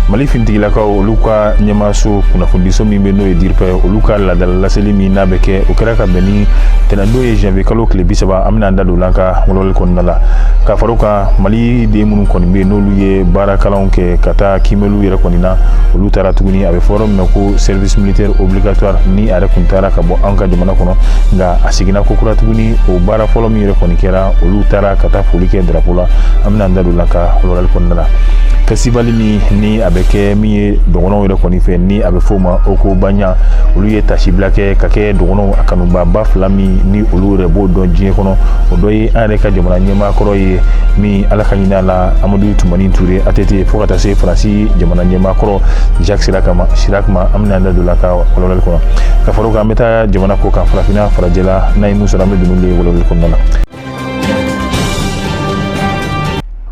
mali finitigilakaw olu ka ɲɛmaaso kunnafonidiso min bɛ n'o ye diripa olu ka laadala laseli min n'a bɛ kɛ o kɛra ka bɛn ni tɛnɛndon ye janvier kalo tile bi saba an bɛna an da don o la an ka walawali kɔnɔna la ka fara o kan Ah, mali den minnu kɔni bɛ yen n'olu ye baarakalanw kɛ ka taa kiimɛliw yɛrɛ kɔni na olu taara tuguni a bɛ fɔ yɔrɔ min na ko service militaire obligatoire ni a yɛrɛ tun taara ka bɔ an ka jamana kɔnɔ nka a seginna ko kura tuguni o baara fɔlɔ min yɛrɛ kɔni kɛra olu taara ka taa foli kɛ drapo la an bɛna an da don o la an ka walawalali kɔnɔna la fɛsitivali min ni a bɛ kɛ min ye dɔgɔnɔw yɛrɛ kɔni fɛ ni a bɛ f'o ma ogobanya olu ye tasibila kɛ ka kɛ dɔgɔnɔw a kanubaaba fila min ni olu yɛrɛ b'o dɔn diɲɛ kɔnɔ o dɔ ye an yɛrɛ ka jamana ɲɛma a kɔrɔ ye min ala ka hinɛ a la amadu tumani ture atete fo ka taa se faransi jamana ɲɛmaa kɔrɔ jacques chirac ma chirac ma an bɛna da don o la an ka walawalali kɔnɔ ka fara o kan an bɛ taa jamana kɔkan farafina farajɛla n'an ye min sɔrɔ an bɛ don n'olu ye walawalali kɔnɔna la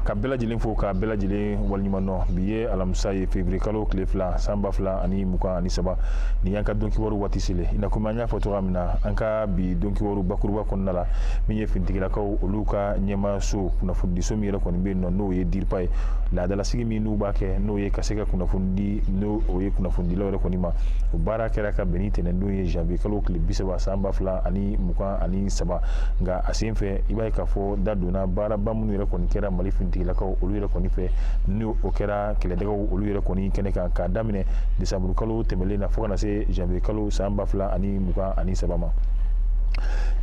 ka bɛɛ lajɛlen fo ka bɛɛ lajɛlen waleɲuman dɔn bi ye alamisa ye février kalo tile fila san ba fila ani mugan ani saba nin y'an ka donkibaru waati selen i n'a komi an y'a fɔ cogoya min na an ka bi donkibaru bakuruba kɔnɔna la min ye finitigilakaw olu ka ɲɛmaayaso kunnafonidiso min yɛrɛ kɔni bɛ yen nɔ n'o ye diripa ye laadalasigi min n'u b'a kɛ n'o ye ka se ka kunnafoni di n'o o ye kunnafonidilaw yɛrɛ kɔni ma o baara kɛra ka bɛn ni tɛnɛndon ye janvier kalo tile bi saba san ba fila ani mugan ani saba nka a sen fɛ i b'a ye k'a fɔ da donna baaraba minnu yɛrɛ kɔni kɛra mali finitigilakaw olu yɛrɛ kɔni fɛ ni o kɛra kɛlɛdagaw olu yɛrɛ kɔni kɛnɛ kan k'a daminɛ desanburukalo tɛmɛlen na fo ka na se janvier kalo san ba fila ani mugan ani saba ma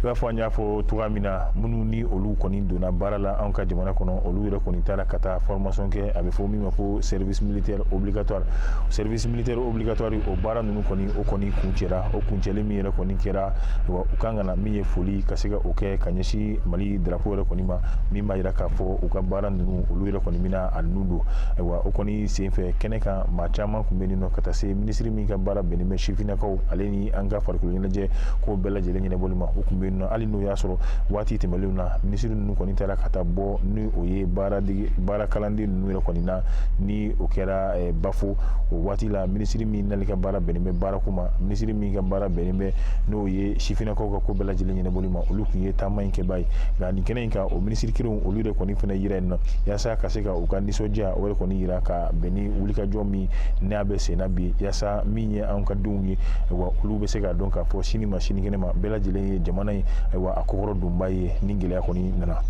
i b'a fɔ an y'a fɔ cogoya min na minnu ni olu kɔni donna baara la anw ka jamana kɔnɔ olu yɛrɛ kɔni taara ka taa formation kɛ a bɛ fɔ min ma ko service militaire obligatoire service militaire obligatoire o baara ninnu kɔni o kɔni kuncɛra o kuncɛli min yɛrɛ kɔni kɛra wa u kan ka na min ye foli ka se ka o kɛ ka ɲɛsin mali drapo yɛrɛ kɔni ma min b'a yira k'a fɔ u ka baara ninnu olu yɛrɛ kɔni bɛna a ninnu don ayiwa o kɔni senfɛ kɛnɛ kan maa caman tun bɛ yen nɔ ka taa se minisiri min ka baara bɛnnen bɛ sifinnakaw ale ni an ka farikolo ɲɛnajɛ ko bɛɛ lajɛlen ɲɛnabɔli ma u tun bɛ yen nɔ hali n'o y'a sɔrɔ waati tɛmɛnlenw na minisiri ninnu kɔni taara ka taa bɔ ni o ye baaradege baara kalanden ninnu yɛrɛ kɔni na ni o kɛra eh, bafo o waati la minisiri min n'ale ka baara bɛnnen bɛ baarako ma minisiri min ka baara bɛnnen bɛ n'o ye sifinnakaw ka ko bɛɛ lajɛlen ɲɛnabɔli ma olu tun ye taama in kɛbaa ye nka nin kɛnɛ in kan o minisiri kelenw olu de kɔni fana yera yen nɔ yaasa ka se ka u ka nisɔndiya o yɛrɛ kɔni yira ka bɛn ni wulikajɔ min a bɛ senna bi yaasa min ye an ka denw ye wa olu bɛ se k'a dɔn k'a fɔ sini ma sinikɛnɛ ma bɛɛ lajɛlen ye jamana ye wa a kɔkɔrɔdonbaa ye ni gɛlɛya kɔni nana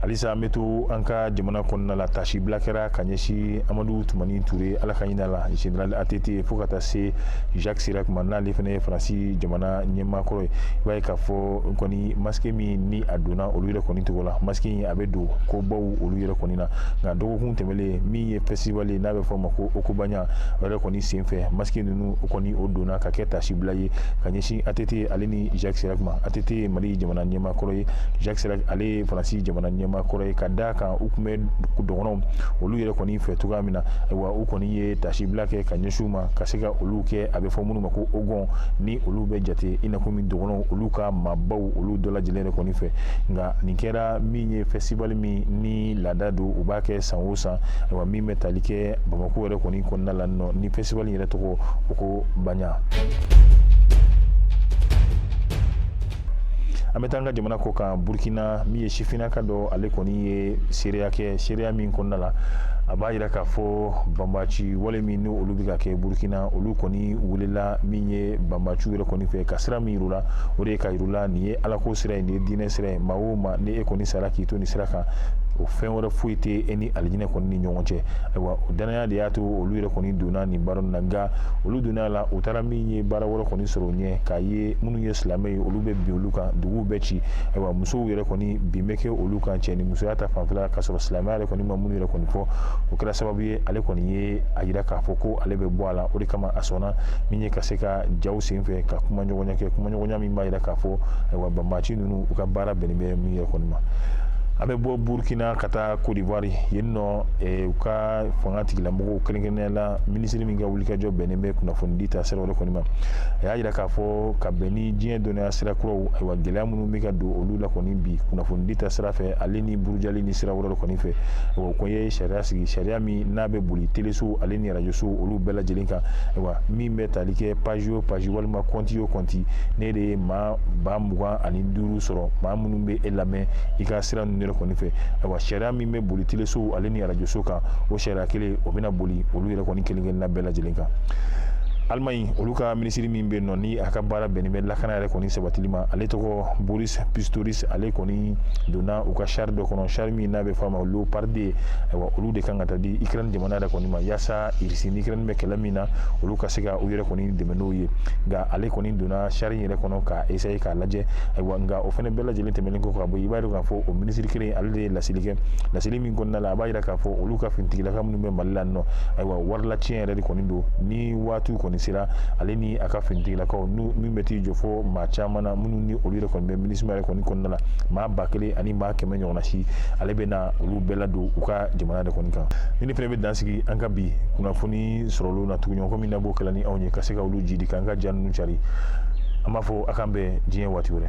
halisa an bɛ to an ka jamana kɔnɔna la tasibila kɛra ka ɲɛsin amadu tumani ture ala ka hina a la général att fo ka taa se jacques chirac ma n'ale fana ye faransi jamana ɲɛmaakɔrɔ ye i b'a ye k'a fɔ kɔni maske min ni a donna olu yɛrɛ kɔni tɔgɔ la maske in a bɛ don kobaw olu yɛrɛ kɔni na nka dɔgɔkun tɛmɛlen min ye festival ye n'a bɛ fɔ o ma ko Ogobagna o yɛrɛ kɔni senfɛ masque ninnu o kɔni o donna ka kɛ tasibila ye ka ɲɛsin ATT ale ni Jacques Chirac ma ATT ye Mali jamana ɲɛmaa kɔrɔ ye Jacques Chirac ale ye Faransi jamana ɲɛmaa kɔrɔ ye ka d'a kan u tun bɛ dɔgɔnɔw olu yɛrɛ kɔni fɛ cogoya min na ayiwa u kɔni ye tasibila kɛ ka ɲɛsin u ma ka se ka olu kɛ a bɛ fɔ minnu ma ko Hogon ni olu bɛ jate i n'a fɔ min dɔgɔnɔw olu ka maabaw olu dɔ lajɛlen yɛrɛ kɔni fɛ nka nin kɛra min ye festival min ni laada don u b'a kɛ san o san ayiwa min bɛ tali kɛ bamakɔ yɛrɛ kɔni kɔnɔna la nɔ ni fɛsitiwali yɛrɛ tɔgɔ ogobagna an bɛ taa an ka jamana kɔkan burukina min ye sifinna ka dɔ ale kɔni ye seereya kɛ seereya min kɔnɔna la a b'a yira k'a fɔ banbaci wale min ni olu bɛ ka kɛ burukina olu kɔni welela min ye banbaciw yɛrɛ kɔni fɛ ka sira min yira u la o de ye k'a yira u la nin ye alako sira ye nin ye diinɛ sira ye maa o maa ni e kɔni sara k'i to nin sira kan o fɛn wɛrɛ foyi tɛ e ni alijinɛ kɔni ni ɲɔgɔn cɛ ayiwa o dannaya de y'a to olu yɛrɛ kɔni donna nin baara in na nka olu donna a la u taara min ye baara wɛrɛ kɔni sɔrɔ yen k'a ye minnu ye silamɛ ye olu bɛ bin olu kan duguw bɛ ci ayiwa musow yɛrɛ kɔni bin bɛ kɛ olu kan cɛ ni musoya ta fanfɛla k'a sɔrɔ silamɛya yɛrɛ kɔni ma minnu yɛrɛ kɔni fɔ o kɛra sababu ye ale kɔni ye a yira k'a fɔ ko ale bɛ bɔ a la o de kama a sɔnna min ye ka se ka jaw senfɛ ka kuma ɲɔgɔnya kɛ kuma ɲɔgɔnya min b'a yira k'a fɔ ayiwa banbaaci ninnu u ka baara bɛnnen bɛ min yɛrɛ kɔni ma an bɛ bɔ burukina ka taa kodiwari yen nɔ u ka fangatigilamɔgɔw kɛrɛnkɛrɛnnenya la minisiri min ka wulikajɔ bɛnnen bɛ kunnafonidi ta sira yɛrɛ kɔni ma a y'a jira k'a fɔ ka bɛn ni diɲɛ dɔnniya sira kuraw ayiwa gɛlɛya minnu bɛ ka don olu la kɔni bi kunnafonidi ta sira fɛ ale ni burujali ni sira wɛrɛ kɔni fɛ o ko ye sariya sigi sariya min n'a bɛ boli teleso ale ni arajoso olu bɛɛ lajɛlen kan ayiwa min bɛ tali kɛ pazi o pazi walima kɔnti o kɔnti n'e de ye maa ba mugan ani duuru sɔrɔ maa minnu bɛ e lamɛn i ka sira ninnu yɛrɛ kɔni fɛ ayiwa sariya min bɛ boli telesow ale ni arajoso kan o sariya kelen o bɛna boli olu yɛrɛ kɔni kelen kelenna bɛɛ lajɛlen kan Allemagne olu ka minisiri min bɛ yen nɔ ni a ka baara bɛnnen bɛ lakana yɛrɛ kɔni sabatili ma ale tɔgɔ Boris Pistorius ale kɔni donna u ka sari dɔ kɔnɔ sari min n'a bɛ fɔ a ma Leopard ayiwa olu de kan ka taa di Ukraine jamana yɛrɛ kɔni ma yaasa Russie ni Ukraine bɛ kɛlɛ min na olu ka se ka u yɛrɛ kɔni dɛmɛ n'o ye nka ale kɔni donna sari in yɛrɛ kɔnɔ ka essayer k'a lajɛ ayiwa nka o fana bɛɛ lajɛlen tɛmɛnen kɔ ka bɔ i b'a dɔn k'a fɔ o minisiri kelen ale de ye laseli kɛ laseli min kɔnɔna la a b'a jira k'a fɔ olu ka finitigilakaw minnu bɛ mali la nɔ ayiwa warilaciyɛn yɛrɛ de kɔni don ni waatiw kɔni sera ale ni a ka finitigilakaw n'u min bɛ t'i jɔ fo maa caman na minnu ni olu yɛrɛ kɔni bɛ minisima yɛrɛ kɔni kɔnɔna la maa ba kelen ani maa kɛmɛ ɲɔgɔnna si ale bɛ na olu bɛɛ ladon u ka jamana de kɔni kan ni ne fana bɛ dan sigi an ka bi kunnafoni sɔrɔli na tuguɲɔgɔn min na b'o kɛla ni anw ye ka se ka olu jidi k'an ka ja ninnu cari an b'a fɔ a k'an bɛn diɲɛ waati wɛrɛ